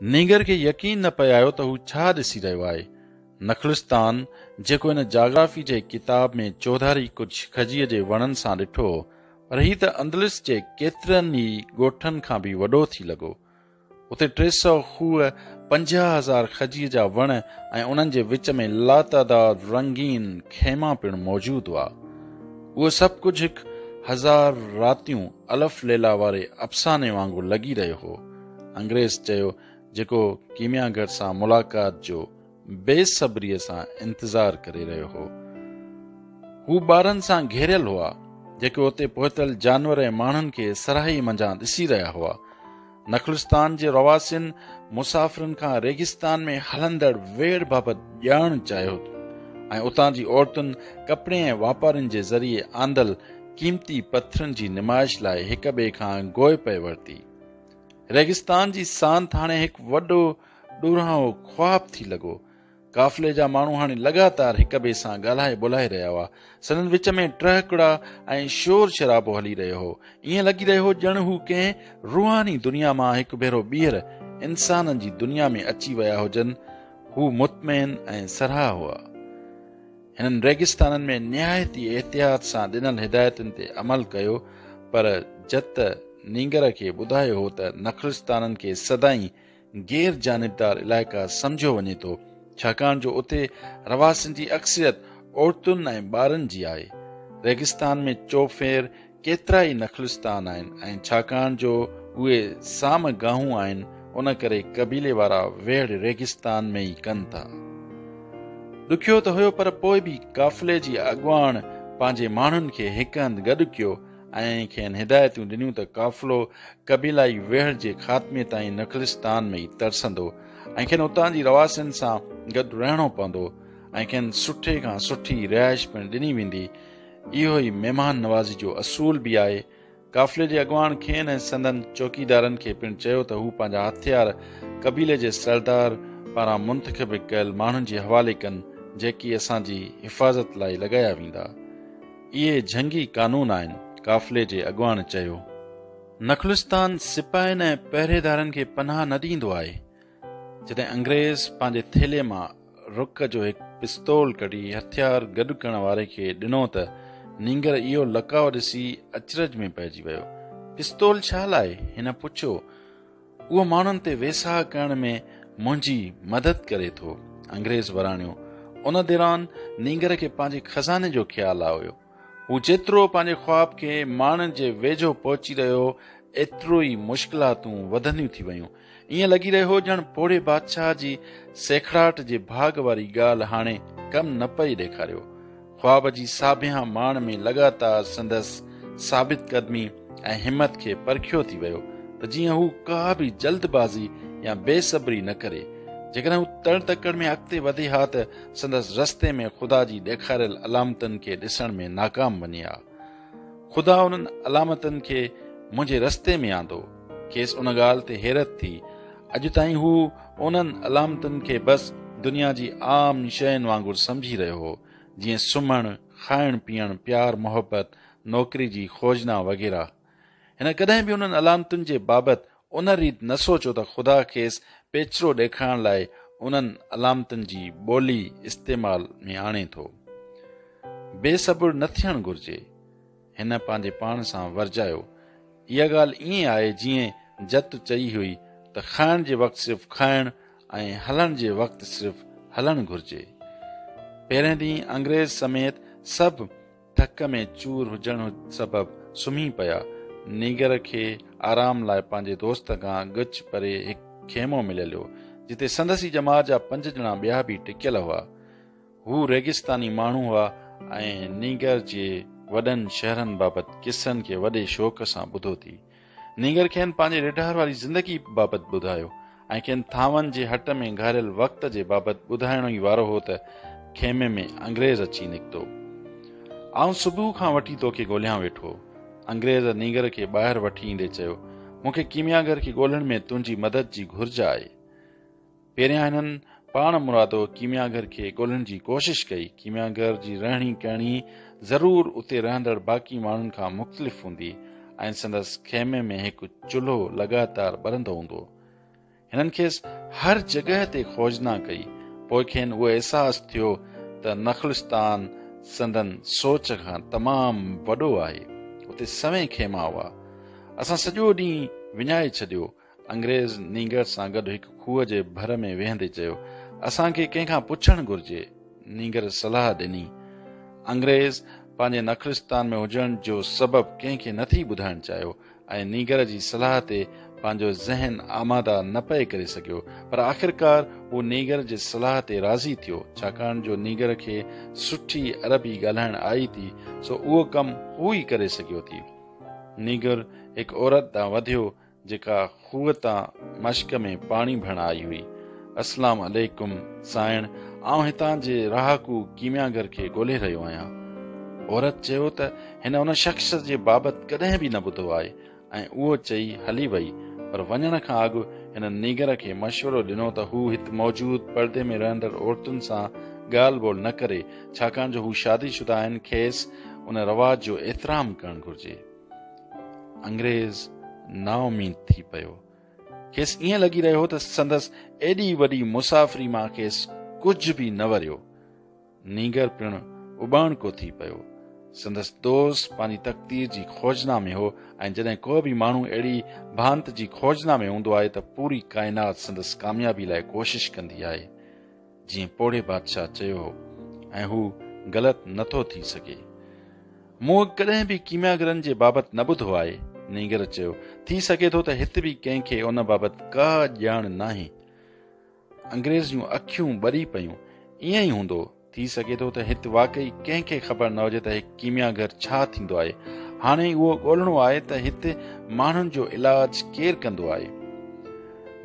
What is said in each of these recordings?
نينگر کي يقين نه پئي آيو ته هو ڇا ڏسي رهيو آهي. نخلستان، جيڪو هن جاگرافي جي ڪتاب ۾ چوڌاري ڪجهه کجيء جي وڻن سان ڏٺو هو، پر هي ته اندلس جي ڪيترن ئي ڳوٺن کان به وڏو ٿي لڳو. اتي ٽي سؤ کوهه، پنجاهه هزار کجيء جا وڻ ۽ انهن جي وچ ۾ لاتعداد رنگين خيما پڻ موجود هئا. اهو سڀ ڪجهه هڪ هزار راتيون الف ليلا واري افساني وانگر لڳي رهيو هو. انگريز چيو جيڪو ڪيميا گر سان ملاقات جو بي صبريء سان انتظار ڪري رهيو هو. هو ٻارن سان گهيريل هئا، جيڪي اتي پهتل جانور ۽ ماڻهن کي سرهائي منجهان ڏسي رهيا هئا. نخلستان جي رهواسين مسافرن کان ريگستان ۾ هلندڙ ويڙهه بابت ڄاڻڻ چاهيو ٿو ۽ اتان جي عورتن ڪپڙي ۽ واپارين جي ذريعي آندل قيمتي پٿرن جي نمائش لاء هڪ ٻئي کان گوء پئي ورتي ريگستان جي سانت هاڻي هڪ وڏو ڏورانهو خواب ٿي لڳو قافلي جا ماڻهو هاڻي لڳاتار هڪ ٻئي سان ڳالهائي ٻولهائي رهيا هئا. سندن وچ ۾ ٽهڪڙا ۽ شور شرابو هلي رهيو هو. ائين لڳي رهيو هو ڄڻ هو ڪنهن روحاني دنيا مان هڪ ڀيرو ٻيهر انسانن جي دنيا ۾ اچي ويا هجن. هو مطمئن ۽ سرها هئا. هنن ريگستانن ۾ نهايت ئي احتياط سان ڏنل هدايتن تي عمل ڪيو پر جت نينگر کي ٻڌايو هو ته نخلستانن کي سدائين غير جانبدار علائقا سمجهيو وڃي ٿو، ڇاڪاڻ جو اتي رهواسين جي اڪثريت عورتن ۽ ٻارن جي آهي. ريگستان ۾ چوڦير ڪيترا ئي نخلستان آهن ۽ ڇاڪاڻ جو اهي سام گاهون آهن، ان ڪري قبيلي وارا ويڙهه ريگستان ۾ ئي ڪن ٿا. ڏکيو ته هيو پر پوء به قافلي جي اڳواڻ پنهنجي ماڻهن کي هڪ هنڌ گڏ ڪيو ۽ کين هدايتون ڏنيون ته قافلو قبيلائي ويڙهه جي خاتمي تائين نخلستان ۾ ئي ترسندو ۽ کين اتان جي رهواسين سان گڏ رهڻو پوندو ۽ کين سٺي کان سٺي رهائش پڻ ڏني ويندي اهو ئي مهمان نوازي جو اصول به آهي قافلي جي اڳواڻ کين ۽ سندن چوڪيدارن کي پڻ چيو ته هو پنهنجا هٿيار قبيلي جي سردار پاران منتخب ڪيل ماڻهن جي حوالي ڪن جيڪي اسان جي حفاظت لاء لڳايا ويندا اهي جهنگي قانون آهن، قافلي جي اڳواڻ چيو. نخلستان سپاهين ۽ پهريدارن کي پناهه نه ڏيندو آهي. جڏهن انگريز پنهنجي ٿيلهي مان رڪ جو هڪ پستول ڪڍي هٿيار گڏ ڪرڻ واري کي ڏنو ته نينگر اهو لقاء ڏسي اچرج ۾ پئجي ويو. پستول ڇا لاء؟ هن پڇيو. اهو ماڻهن تي ويساهه ڪرڻ ۾ منهنجي مدد ڪري ٿو. انگريز وراڻيو. ان دوران نينگر کي پنهنجي خزاني جو خيال آيو. هو جيترو پنهنجي خواب کي ماڻڻ جي ويجهو پهچي رهيو ايترو ئي مشڪلاتون وڌنديون ٿي ويون. ائين لڳي رهيو هو ڄڻ پوڙهي بادشاهه جي سيکڙاٽ جي ڀاڳ واري ڳالهه هاڻي ڪم نه پئي ڏيکاريو. خواب جي ساڀيان ماڻ ۾ لڳاتار سندس ثابت قدمي ۽ همت کي پرکيو ٿي ويو ته جيئن هو ڪا به جلد بازي يا بي صبري نه ڪري. جيڪڏهن هو تڙ تڪڙ ۾ اڳتي وڌي ها ته سندس رستي ۾ خدا جي ڏيکاريل علامتن کي ڏسڻ ۾ ناڪام وڃي ها. خدا انهن علامتن کي منهنجي رستي ۾ آندو. کيس ان ڳالهه تي حيرت ٿي. اڄ تائين هو انهن علامتن کي بس دنيا جي عام شين وانگر سمجهي رهيو هو، جيئن سمهڻ، کائڻ پيئڻ، پيار محبت، نوڪري جي خوجنا وغيره. هن ڪڏهن به انهن علامتن جي بابت ان ريت نه سوچيو ته خدا کيس پيچرو ڏيکارڻ لاء انهن علامتن جي ٻولي استعمال ۾ آڻي ٿو. بي صبر نه ٿيڻ گهرجي. هن پنهنجي پاڻ سان ورجايو. اها ڳالهه ائين آهي جيئن جت چئي هئي ته کائڻ جي وقت صرف کائڻ ۽ هلڻ جي وقت صرف هلڻ گهرجي. پهرين ڏينهن انگريز سميت سڀ ڍڪ ۾ چور هجڻ سبب سمهي پيا. نينگر کي آرام لاء پنهنجي دوست کان ڳچ پري هڪ خيمو مليل هو، جتي سندس ئي ڄمار جا پنج ڄڻا ٻيا به ٽڪيل هئا. هو ريگستاني ماڻهو هئا ۽ نينگر جي وڏن شهرن بابت قصن کي وڏي شوق سان ٻڌو ٿي. نينگر کين پنهنجي ريڍار واري زندگي بابت ٻڌايو ۽ کين ٿانون جي هٽ ۾ گهاريل وقت جي بابت ٻڌائڻو ئي وارو هو ته خيمي ۾ انگريز اچي نڪتو. آئون صبح کان وٺي توکي ڳوليان ويٺو. انگريز نينگر کي ٻاهر وٺي ايندي چيو، مون کي ڪيمياگر کي ڳولڻ ۾ تنهنجي مدد جي گهرج آهي. پهريان هنن پاڻ مرادو ڪيميا گهر کي ڳولهڻ جي ڪوشش ڪئي. ڪيميا گهر جي رهڻي ڪهڻي ضرور اتي رهندڙ باقي ماڻهن کان مختلف هوندي ۽ سندس خيمي ۾ هڪ چلهو لڳاتار ٻرندو هوندو. هنن کيس هر جڳهه تي کوجنا ڪئي. پوء کين اهو احساس ٿيو ته نخلستان سندن سوچ کان تمام وڏو آهي. اتي سوين خيما هئا. اسان سڄو ڏينهن وڃائي ڇڏيو. انگريز نينگر سان گڏ هڪ کوهه جي ڀر ۾ ويهندي چيو، اسان کي ڪنهن کان پڇڻ گهرجي. نينگر صلاح ڏني. انگريز پنهنجي نخلستان ۾ هجڻ جو سبب ڪنهن کي نٿي ٻڌائڻ چاهيو ۽ نينگر جي صلاح تي پنهنجو ذهن آماده نه پئي ڪري سگهيو پر آخرڪار هو نينگر جي صلاح تي راضي ٿيو ڇاڪاڻ جو نينگر کي سٺي عربي ڳالهائڻ آئي ٿي سو اهو ڪم هو ئي ڪري سگهيو ٿي نينگر هڪ عورت ڏانهن وڌيو جيڪا خوهه تان مشڪ ۾ پاڻي ڀڻ آئي هئي. اسلام عليڪم سائڻ آئون هتان جي رهاڪو ڪيمياگر کي ڳولهي رهيو آهيان. عورت چيو ته هن ان شخص جي بابت ڪڏهن به نه ٻڌو آهي ۽ اهو چئي هلي وئي پر وڃڻ کان اڳ هن نيگر کي مشورو ڏنو ته هو هت موجود پردي ۾ رهندڙ عورتن سان ڳالهه ٻولهه نه ڪري ڇاڪاڻ جو هو شادي شده آهن کيس ان رواج جو احترام ڪرڻ گهرجي. انگريز نااميد ٿي پيو. کيس ائين لڳي رهيو ته سندس ايڏي وڏي مسافري مان کيس ڪجهه به نه وريو. نينگر پڻ اٻاڻڪو ٿي پيو. سندس دوست پنهنجي تقدير جي کوجنا ۾ هو ۽ جڏهن ڪو به ماڻهو اهڙي ڀانت جي کوجنا ۾ هوندو آهي ته پوري ڪائنات سندس ڪاميابي لاء ڪوشش ڪندي آهي. جيئن پوڙهي بادشاهه چيو هو ۽ هو غلط نه ٿو ٿي سگهي. مون اڳ ڪڏهن به ڪيمياگرن جي بابت نه ٻڌو آهي، نينگر چيو، ٿي سگهي ٿو ته هت به ڪنهن کي ان بابت ڪا ڄاڻ ناهي. انگريز جون اکيون ٻري پيون. ائين ئي هوندو. ٿي سگهي ٿو ته هت واقعي ڪنهن کي خبر نه هجي ته هڪ ڪيمياگر ڇا ٿيندو آهي. هاڻي اهو ڳولهڻو آهي ته هت ماڻهن جو علاج ڪير ڪندو آهي.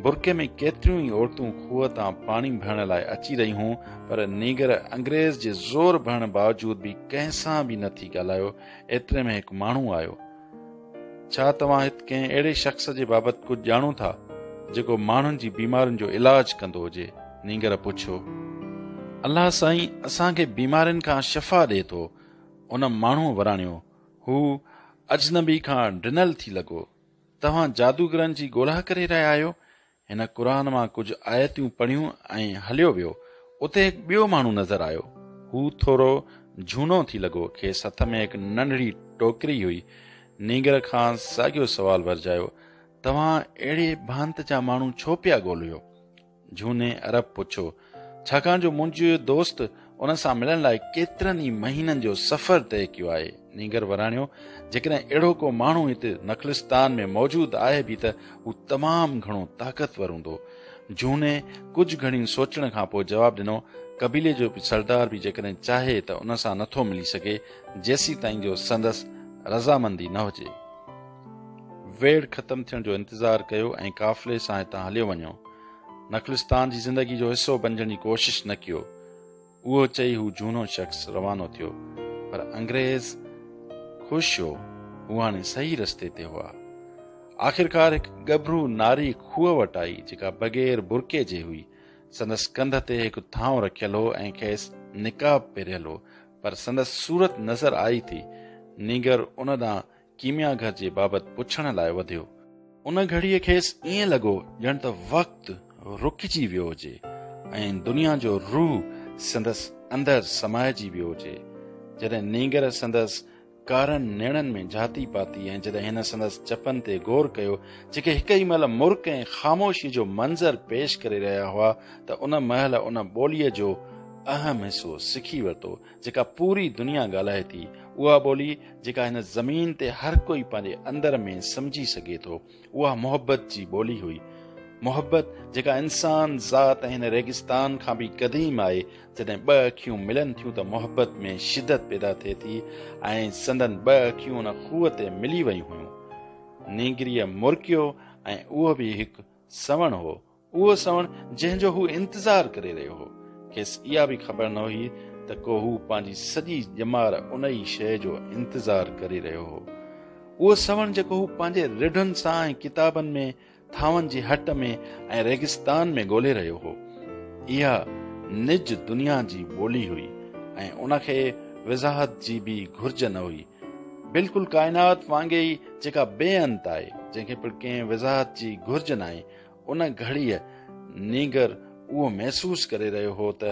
برقعي ۾ ڪيتريون ئي عورتون کوهه تان پاڻي ڀرڻ لاء اچي رهيون پر نينگر انگريز جي زور ڀرڻ باوجود به ڪنهن سان به نه ٿي ڳالهايو ايتري ۾ هڪ ماڻهو آيو ڇا توهان هت ڪنهن اهڙي شخص جي بابت ڪجهه ڄاڻو ٿا جيڪو ماڻهن جي بيمارين جو علاج ڪندو هجي نينگر پڇيو الله سائين اسان کي بيمارين کان شفا ڏي ٿو ان ماڻهو وراڻيو هو اجنبي کان ڊنل ٿي لڳو توهان جادوگرن جي ڳولا ڪري رهيا آهيو؟ هن قرآن مان ڪجهه آيتون پڙهيون ۽ هليو ويو. اتي هڪ ٻيو ماڻهو نظر آيو. هو ٿورو جهونو ٿي لڳو. کيس هٿ ۾ هڪ ننڍڙي ٽوڪري هئي. نينگر کان ساڳيو سوال ورجايو، توهان اهڙي ڀانت جا ماڻهو ڇو پيا ڳوليو؟ جهوني عرب پڇيو، ڇاڪاڻ جو منهنجي دوست ان سان ملڻ لاء ڪيترن ئي مهينن جو سفر طئي ڪيو آهي. نينگر وراڻيو، جيڪڏهن اهڙو ڪو ماڻهو هتي نخلستان ۾ موجود آهي به ته هو تمام گهڻو طاقتور هوندو. جهوني ڪجهه گهڙين سوچڻ کان پوء جواب ڏنو، قبيلي جو سردار به جيڪڏهن چاهي ته ان سان نٿو ملي سگهي، جيسيتائين جو سندس رضامندي نه هجي. ويڙهه ختم ٿيڻ جو انتظار ڪيو ۽ قافلي سان هتان هليو وڃو. نخلستان جي زندگي جو حصو بنجڻ جي ڪوشش نه ڪيو اهو چئي هو جهونو شخص روانو ٿيو پر انگريز خوش هو هو هاڻي صحيح رستي تي هئا آخرڪار هڪ ڳڀرو ناري کوهه وٽ آئي جيڪا بغير برڪي جي هئي سندس ڪنڌ تي هڪ ٿانو رکيل هو ۽ کيس نقاب پهريل هو پر سندس صورت نظر آئي ٿي نينگر ان ڏانهن ڪيميا گهر جي بابت پڇڻ لاء وڌيو. ان گهڙيء کيس ائين لڳو ڄڻ ته وقت رڪجي ويو هجي ۽ دنيا جو روح سندس اندر سمائجي ويو هجي. جڏهن نينگر سندس ڪارن نيڻن ۾ جهاتي پاتي ۽ جڏهن هن سندس چپن تي غور ڪيو، جيڪي هڪ ئي مهل مرڪ ۽ خاموشيء جو منظر پيش ڪري رهيا هئا ته ان مهل ان ٻوليء جو اهم حصو سکي ورتو، جيڪا پوري دنيا ڳالهائي ٿي، اها ٻولي جيڪا هن زمين تي هر ڪوئي پنهنجي اندر ۾ سمجهي سگهي ٿو، اها محبت جي ٻولي هئي. محبت جيڪا انسان ذات ۽ هن ريگستان کان به قديم آهي، جڏهن ٻه اکيون ملن ٿيون ته محبت ۾ شدت پيدا ٿئي ٿي ۽ سندن ٻه اکيون ان خوهه تي ملي ويون هيون. نينگريء مرڪيو ۽ اهو به هڪ سوڻ هو. اهو سوڻ جنهن جو هو انتظار ڪري رهيو هو، کيس اها به خبر نه هئي ته ڪو هو پنهنجي سڄي ڄمار ان ئي شيء جو انتظار ڪري رهيو هو. اهو سوڻ جيڪو هو پنهنجي رڍن سان ۽ ڪتابن ۾ ٿانون جي هٽ ۾ ۽ ريگستان ۾ ڳولهي رهيو هو، اها نج دنيا جي ٻولي هئي ۽ ان کي وضاحت جي به گهرج نه هئي. بلڪل ڪائنات وانگي ئي جيڪا بي انت آهي، جنهن کي پڻ ڪنهن وضاحت جي گهرج ناهي، ان گهڙيء نينگر اهو محسوس ڪري رهيو هو ته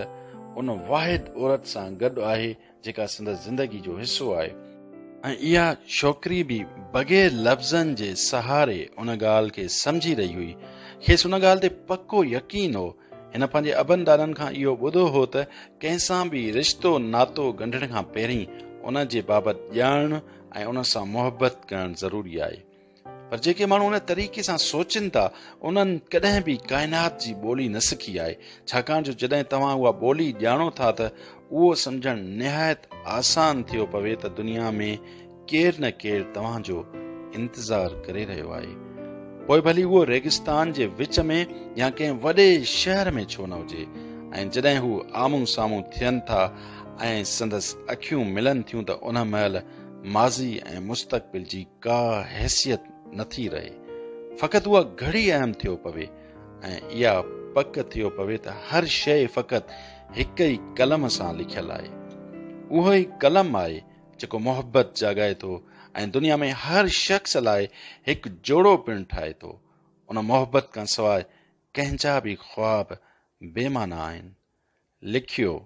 ان واحد عورت سان گڏ آهي جيڪا سندس زندگي جو حصو آهي ۽ اها ڇوڪري به بغير لفظن جي سهاري ان ڳالهه کي سمجهي رهي هئي کيس ان ڳالهه تي پڪو يقين هو هن پنهنجي ابن ڏاڏن کان اهو ٻڌو هو ته ڪنهن سان به رشتو ناتو ڳنڍڻ کان پهرين ان جي بابت ڄاڻڻ ۽ ان سان محبت ڪرڻ ضروري آهي پر جيڪي ماڻهو ان طريقي سان سوچين ٿا انهن ڪڏهن به ڪائنات جي ٻولي نه سکي آهي ڇاڪاڻ جو جڏهن توهان اها ٻولي ڄاڻو ٿا ته اهو سمجهڻ نهايت آسان ٿيو پوي ته دنيا ۾ ڪير نه ڪير توهان جو انتظار ڪري رهيو آهي پوء ڀلي اهو ريگستان جي وچ ۾ يا ڪنهن وڏي شهر ۾ ڇو نه هجي ۽ جڏهن هو آمون سامون ٿين ٿا ۽ سندس اکيون ملن ٿيون ته ان مهل ماضي ۽ مستقبل جي ڪا حيثيت نه ٿي رهي فقط اها گهڙي اهم ٿيو پوي ۽ اها پڪ ٿيو پوي ته هر شيء فقط هڪ ئي قلم سان لکيل آهي اهو ئي قلم آهي جيڪو محبت جاڳائي ٿو ۽ دنيا ۾ هر شخص لاء هڪ جوڙو پڻ ٺاهي ٿو ان محبت کان سواء ڪنهن جا به خواب بي معنيٰ آهن لکيو،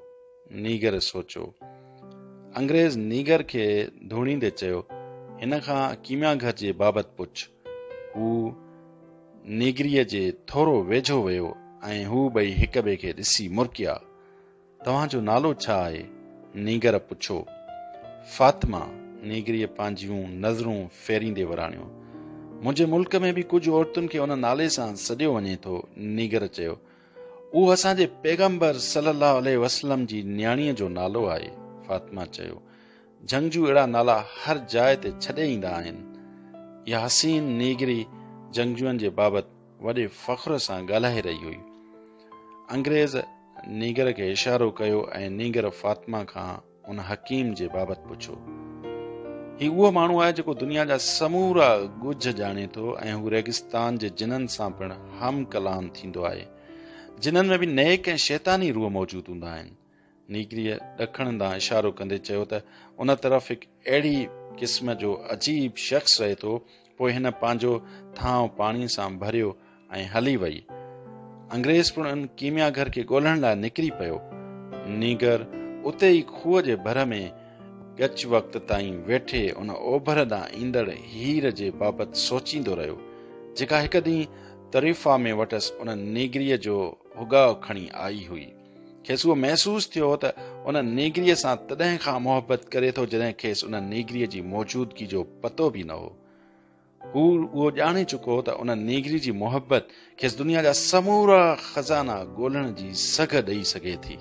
نيگر سوچو. انگريز نيگر کي ڌوڻيندي چيو، هن کان ڪيميا گهر جي بابت پڇ. هو نيگريء جي ٿورو ويجهو ويو ۽ هو ٻئي هڪ ٻئي کي ڏسي مرڪيا. توهان جو نالو ڇا آهي؟ نيگر پڇو. فاطمه، نيگريء پنهنجيون نظرون ڦيريندي وراڻيو. منهنجي ملڪ ۾ به ڪجهه عورتن کي ان نالي سان سڏيو وڃي ٿو، نيگر چيو. اهو اسان جي پيغمبر صلي الله عليه وسلم جي نياڻيء جو نالو آهي. فاطمه چيو، جهنگجو اهڙا نالا هر جاء تي ڇڏي ايندا آهن. اها حسين نيگري جهنگجوئن جي بابت وڏي فخر سان ڳالهائي رهي هئي. انگريز نيگر کي اشارو ڪيو ۽ نيگر فاطمه کان ان حڪيم جي بابت پڇو. هي اهو ماڻهو آهي جيڪو دنيا جا سمورا ڳجهه ڄاڻي ٿو ۽ هو ريگستان جي جنن سان پڻ هم ڪلام ٿيندو آهي. جنن ۾ به نيڪ ۽ شيطاني روح موجود هوندا آهن. نيگريء ڏکڻ ڏانهن اشارو ڪندي چيو ته ان طرف هڪ اهڙي قسم جو عجيب شخص رهي ٿو پوء هن پنهنجو ٿانء پاڻي سان ڀريو ۽ هلي وئي. انگريز پڻ ان ڪيميا گهر کي ڳولڻ لاء نڪري پيو. نينگر اتي ئي کوهه جي ڀر ۾ ڳچ وقت تائين ويٺي ان اوڀر ڏانهن ايندڙ هير جي بابت سوچيندو رهيو، جيڪا هڪ ڏينهن طريفا ۾ وٽس ان نينگريء جو هڳاء کڻي آئي هئي. کيس اهو محسوس ٿيو ته ان نيگريء سان تڏهن کان محبت ڪري ٿو جڏهن کيس ان نيگريء جي موجودگي جو پتو به نه هو هو اهو ڄاڻي چڪو هو ته ان نيگري جي محبت کيس دنيا جا سمورا خزانا ڳولڻ جي سگهه ڏئي سگهي ٿي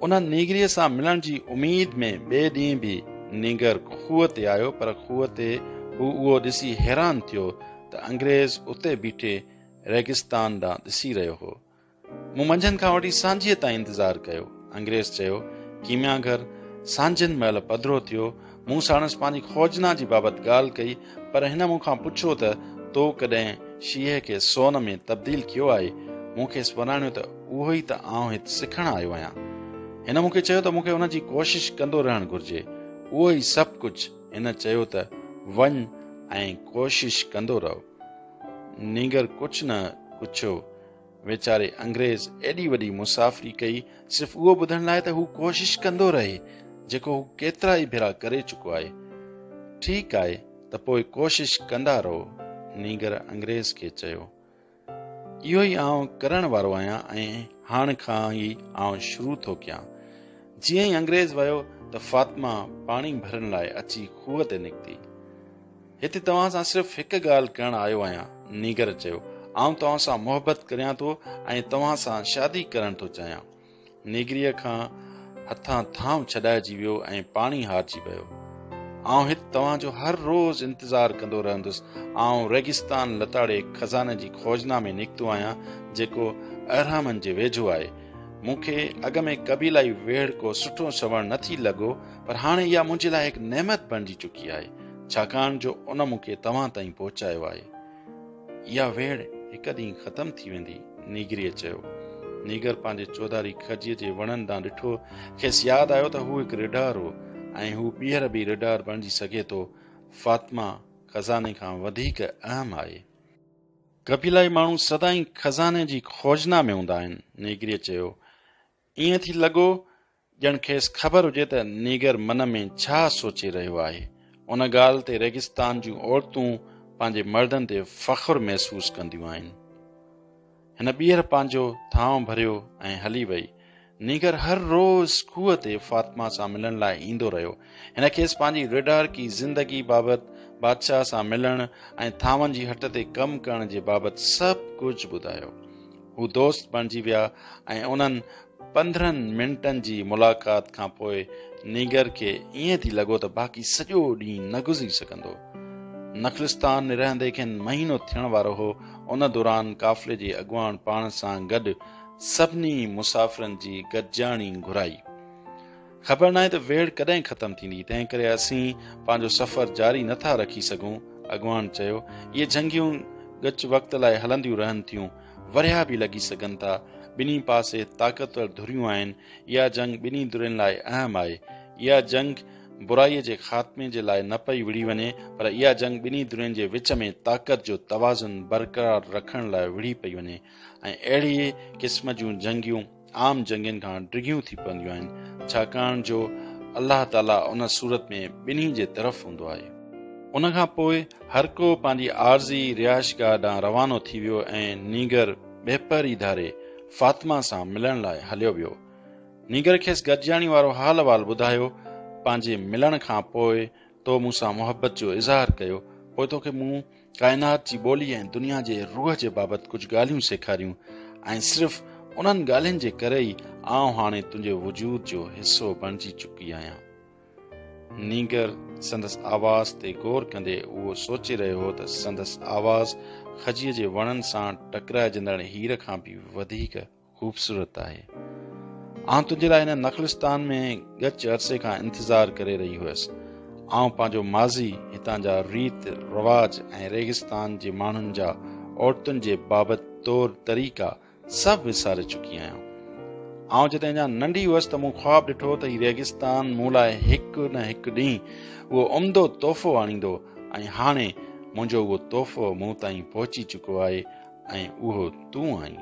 ان نيگريء سان ملڻ جي اميد ۾ ٻئي ڏينهن به نينگر خوه تي آيو پر خوه تي هو اهو ڏسي حيران ٿيو ته انگريز اتي بيٺي ريگستان ڏانهن ڏسي رهيو هو مون منجهند کان وٺي سانجهيء تائين انتظار ڪيو. انگريز چيو، ڪيميا گهر، سانجهند مهل پڌرو ٿيو. مون ساڻس پنهنجي خوجنا جي بابت ڳالهه ڪئي، پر هن مون کان پڇيو ته، تو ڪڏهن شيهه کي سون ۾ تبديل ڪيو آهي؟ مون کيس وراڻيو ته، اهو ئي ته آئون هت سکڻ آيو آهيان. هن مون کي چيو ته، مون کي ان جي ڪوشش ڪندو رهڻ گهرجي. اهو ئي سڀ ڪجهه. هن چيو ته، وڃ ۽ ڪوشش ڪندو رهه. نينگر ڪجهه نه ڪڇيو. ويچاري انگريز ايڏي وڏي مسافري ڪئي صرف اهو ٻڌڻ لاء ته هو ڪوشش ڪندو رهي جيڪو هو ڪيترا ئي ڀيرا ڪري چڪو آهي. ٺيڪ آهي ته پوء ڪوشش ڪندا رهو نينگر انگريز کي چيو. اهو ئي آئون ڪرڻ وارو آهيان ۽ هاڻ کان ئي آئون شروع ٿو ڪيان. جيئن ئي انگريز ويو ته فاطمه پاڻي ڀرڻ لاء اچي کوهه تي نڪتي. هتي توهان سان صرف هڪ ڳالهه ڪرڻ آيو آهيان، نيگر چيو. آئون توهان سان محبت ڪريان ٿو ۽ توهان سان شادي ڪرڻ ٿو چاهيان. نيگريء کان هٿان ٿانء ڇڏائجي ويو ۽ پاڻي هارجي ويو. آئون هت توهان جو هر روز انتظار ڪندو رهندس. آئون ريگستان لتاڙي خزاني جي کوجنا ۾ نڪتو آهيان، جيڪو اهرامن جي ويجهو آهي. مون کي اڳ ۾ قبيلائي ويڙهڪو سٺو سنوڻ نه ٿي لڳو، پر هاڻي اها منهنجي لاء هڪ نعمت بڻجي چڪي آهي. ڇاڪاڻ جو ان مون کي توهان تائين پهچايو آهي. اها ويڙهه هڪ ڏينهن ختم ٿي ويندي. نيگريء چيو. نيگر پنهنجي چوڌاري کجيء جي وڻن ڏانهن ڏٺو. کيس ياد آيو ته هو هڪ ريڍار هو ۽ هو ٻيهر به ريڍار بڻجي سگهي ٿو. فاطمه خزاني کان وڌيڪ اهم آهي. قبيلائي ماڻهو سدائين خزاني جي کوجنا ۾ هوندا آهن. نيگريء چيو. ائين ٿي لڳو ڄڻ کيس خبر هجي ته نيگر من ۾ ڇا سوچي رهيو آهي. ان ڳالهه تي ريگستان جون عورتون پنهنجي مردن تي فخر محسوس ڪنديون آهن. هن ٻيهر پنهنجو ٿانء ڀريو ۽ هلي وئي. نيگر هر روز کوهه تي فاطمه سان ملڻ لاء ايندو رهيو. هن کيس پنهنجي ريڊارڪي زندگي بابت، بادشاهه سان ملڻ ۽ ٿانون جي هٽ تي ڪم ڪرڻ جي بابت سڀ ڪجهه ٻڌايو. هو دوست بڻجي ويا ۽ انهن پندرهن منٽن جي ملاقات کان پوء نينگر کي ائين ٿي لڳو ته باقي سڄو ڏينهن نه گذري سگهندو. نخلستان نرهندي کين مهينو ٿيڻ وارو هو، ان دوران قافلي جي اڳواڻ پاڻ سان گڏ سڀني مسافرن جي گڏجاڻي گهرائي. خبر ناهي ته ويڙهه ڪڏهن ختم ٿيندي، تنهن ڪري اسين پنهنجو سفر جاري نه ٿا رکي سگهون. اڳواڻ چيو، اهي جهنگيون ڳچ وقت لاء هلنديون رهن ٿيون، ورهيا به لڳي سگهن ٿا. ٻنهي پاسي طاقتور ڌريون آهن. اها جنگ ٻنهي ڌرين لاء اهم آهي. اها جنگ برائيء جي خاتمي جي لاء نه پئي وڙهي وڃي، پر اها جنگ ٻنهي ڌرين جي وچ ۾ طاقت جو توازن برقرار رکڻ لاء وڙهي پئي وڃي ۽ اهڙيء قسم جون جهنگيون، عام جنگين کان ڊگهيون ٿي پونديون آهن، ڇاڪاڻ جو الله تعاليٰ ان صورت ۾ ٻنهي جي طرف هوندو آهي. ان کان پوء هر ڪو پنهنجي عارضي رهائشگاهه ڏانهن روانو ٿي ويو ۽ نينگر ٻهپهر ئي ڌاري فاطمه سان ملڻ لاء هليو ويو. نينگر کيس گڏجاڻي وارو حال احوال ٻڌايو، پنهنجي ملڻ کان پوء تو مون سان محبت جو اظهار ڪيو، پوء توکي مون ڪائنات جي ٻولي ۽ دنيا جي روح جي بابت ڪجهه ڳالهيون سيکاريون ۽ صرف انهن ڳالهين جي ڪري ئي آئون هاڻي تنهنجي وجود جو حصو بڻجي چڪي آهيان. نينگر سندس آواز تي غور ڪندي اهو سوچي رهيو هو ته سندس آواز کجيء جي وڻن سان ٽڪرائجندڙ هير کان به وڌيڪ خوبصورت آهي. آئون تنهنجي لاء هن نخلستان ۾ ڳچ عرصي کان انتظار ڪري رهي هيس. آئون پنهنجو ماضي، هتان جا ريت رواج ۽ ريگستان جي ماڻهن جا عورتن جي بابت طور طريقا سڀ وساري چڪي آهيان. آئون جڏهن اڃا ننڍي هيس ته مون خواب ڏٺو ته هي ريگستان مون لاء هڪ نه هڪ ڏينهن اهو عمدو تحفو آڻيندو ۽ هاڻي منهنجو اهو تحفو مون تائين پهچي چڪو آهي ۽ اهو تون آهين.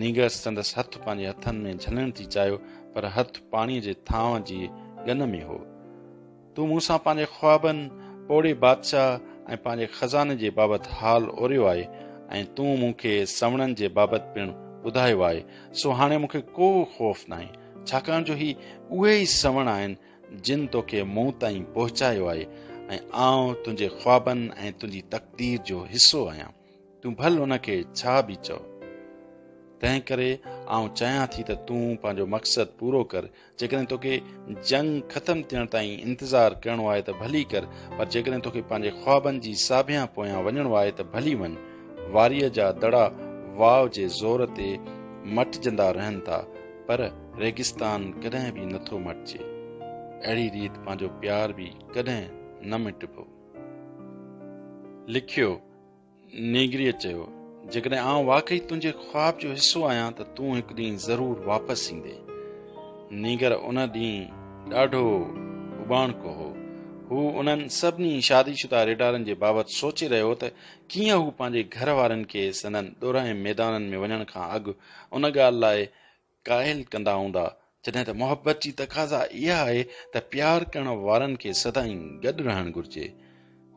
نينگر سندس هٿ پنهنجي هٿن ۾ جهلڻ ٿي چاهيو پر هٿ پاڻيء جي ٿانء جي ڳن ۾ هو. تون مون سان پنهنجي خوابن، پوڙهي بادشاهه ۽ پنهنجي خزاني جي بابت حال اوريو آهي ۽ تون مون کي سوڻن جي بابت پڻ ٻڌايو آهي، سو هاڻي مون کي ڪو خوف ناهي، ڇاڪاڻ جو هي اهي ئي سوڻ آهن، جن توکي مون تائين پهچايو آهي ۽ آئون تنهنجي خوابن ۽ تنهنجي تقدير جو حصو آهيان. تون ڀل ان کي ڇا به چئو. تنهن ڪري آئون چاهيان ٿي ته تون پنهنجو مقصد پورو ڪر. جيڪڏهن توکي جنگ ختم ٿيڻ تائين انتظار ڪرڻو آهي ته ڀلي ڪر، پر جيڪڏهن توکي پنهنجي خوابن جي ساڀيان پويان وڃڻو آهي ته ڀلي وڃ. واريء جا دڙا واء جي زور تي مٽجندا رهن ٿا، پر ريگستان ڪڏهن به نه ٿو مٽجي. اهڙي ريت پنهنجو پيار به ڪڏهن نه مٽبو. لکيو. نينگريء چيو، جيڪڏهن آئون واقعي تنهنجي خواب جو حصو آهيان ته تون هڪ ڏينهن ضرور واپس ايندي. نينگر ان ڏينهن ڏاڍو اٻاڻڪو هو. هو انهن سڀني شادي شده ريڊارن جي بابت سوچي رهيو هو ته ڪيئن هو پنهنجي گهر وارين کي سندن ڏورانهين ميدانن ۾ وڃڻ کان اڳ ان ڳالهه لاء قائل ڪندا هوندا جڏهن ته محبت جي تقاضا اها آهي ته پيار ڪرڻ وارن کي سدائين گڏ رهڻ گهرجي.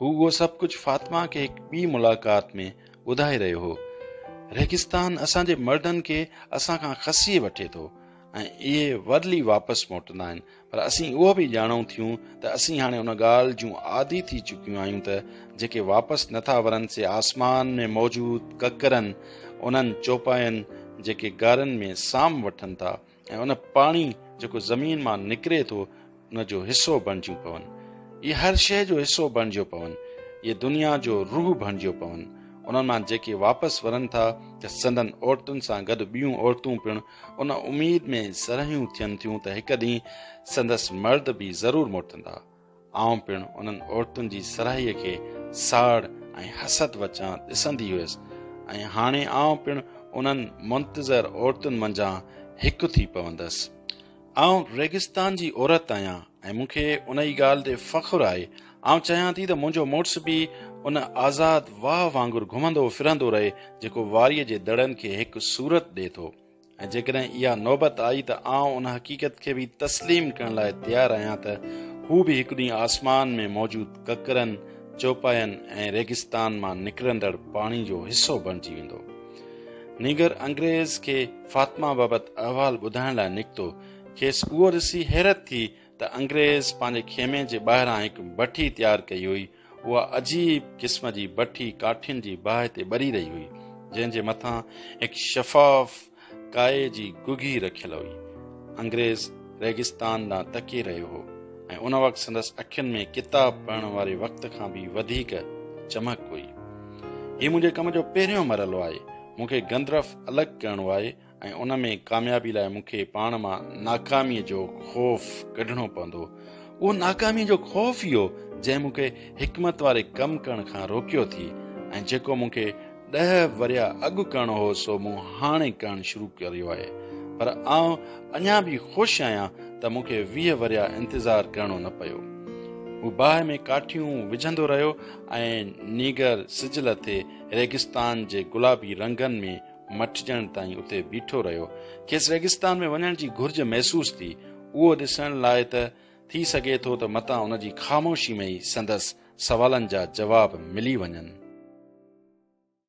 هو اهو سڀ ڪجهه فاطمه کي هڪ ٻي ملاقات ۾ ٻڌائي رهيو هو. ريگستان اسان جي مردن کي اسان کان کسي وٺي ٿو ۽ اهي ورلي واپس موٽندا آهن پر اسين اهو به ڄاڻون ٿيون ته اسين هاڻي ان ڳالهه جون عادي ٿي چڪيون آهيون ته جيڪي واپس نٿا ورن سي آسمان ۾ موجود ڪڪرن انهن چوپاين جيڪي گارن ۾ سام وٺن ٿا ۽ ان پاڻي جيڪو زمين مان نڪري ٿو ان جو حصو بڻجيون پون اهي هر شيء جو حصو بڻجيو پون اهي دنيا جو روح بڻجيو پون انهن مان جيڪي واپس ورن ٿا ته سندن عورتن سان گڏ ٻيون عورتون پڻ ان اميد ۾ سرهيون ٿين ٿيون ته هڪ ڏينهن سندس مرد به ضرور موٽندا. آئون پڻ انهن عورتن جي سرهيء کي ساڙ ۽ حسد وچان ڏسندي هيس ۽ هاڻي آئون پڻ انهن منتظر عورتن منجهان هڪ ٿي پوندس. آئون ريگستان جي عورت آهيان ۽ مون کي ان ئي ڳالهه تي فخر آهي. آئون چاهيان ٿي ته منهنجو مڙس به ان آزاد واهه وانگر گهمندو ڦرندو رهي جيڪو واريء جي دڙن کي هڪ صورت ڏئي ٿو ۽ جيڪڏهن اها نوبت آئي ته آئون ان حقيقت کي به تسليم ڪرڻ لاء تيار آهيان ته هو به هڪ ڏينهن آسمان ۾ موجود ڪڪرن، چوپاين ۽ ريگستان مان نڪرندڙ پاڻي جو حصو بڻجي ويندو. نينگر انگريز کي فاطمه بابت احوال ٻڌائڻ لاء نڪتو. کيس اهو ڏسي حيرت ٿي ته انگريز پنهنجي خيمي جي ٻاهران هڪ بٺي تيار ڪئي هئي. اها عجيب قسم جي بٺي ڪاٺين جي باهه تي ٻري رهي هئي، جنهن جي مٿان هڪ شفاف ڪائي جي گگهي رکيل هئي. انگريز ريگستان ڏانهن تڪي رهيو هو ۽ ان وقت سندس اکين ۾ ڪتاب پڙهڻ واري وقت کان به وڌيڪ چمڪ هئي هي منهنجي ڪم جو پهريون مرحلو آهي مون کي گندرف الڳ ڪرڻو آهي ۽ ان ۾ ڪاميابي لاء مون کي پاڻ مان ناڪاميء جو خوف ڪڍڻو پوندو اهو ناڪاميء جو خوف ئي هو جنهن مون کي حڪمت واري ڪم ڪرڻ کان روڪيو ٿي ۽ جيڪو مون کي ڏهه ورهيا اڳ ڪرڻو هو سو مون هاڻي ڪرڻ شروع ڪريو آهي پر آئون اڃا به خوش آهيان ته مون کي ويهه ورهيا انتظار ڪرڻو نه پيو. هو باهه ۾ ڪاٺيون وجهندو رهيو ۽ نيگر سج لٿي ريگستان جي گلابي رنگن ۾ مٽجڻ تائين اتي بيٺو رهيو. کيس ريگستان ۾ وڃڻ جي گهرج محسوس ٿي. اهو ڏسڻ لاء ته ٿي سگهي ٿو ته متان ان جي خاموشي ۾ ئي سندس سوالن جا جواب ملي وڃن.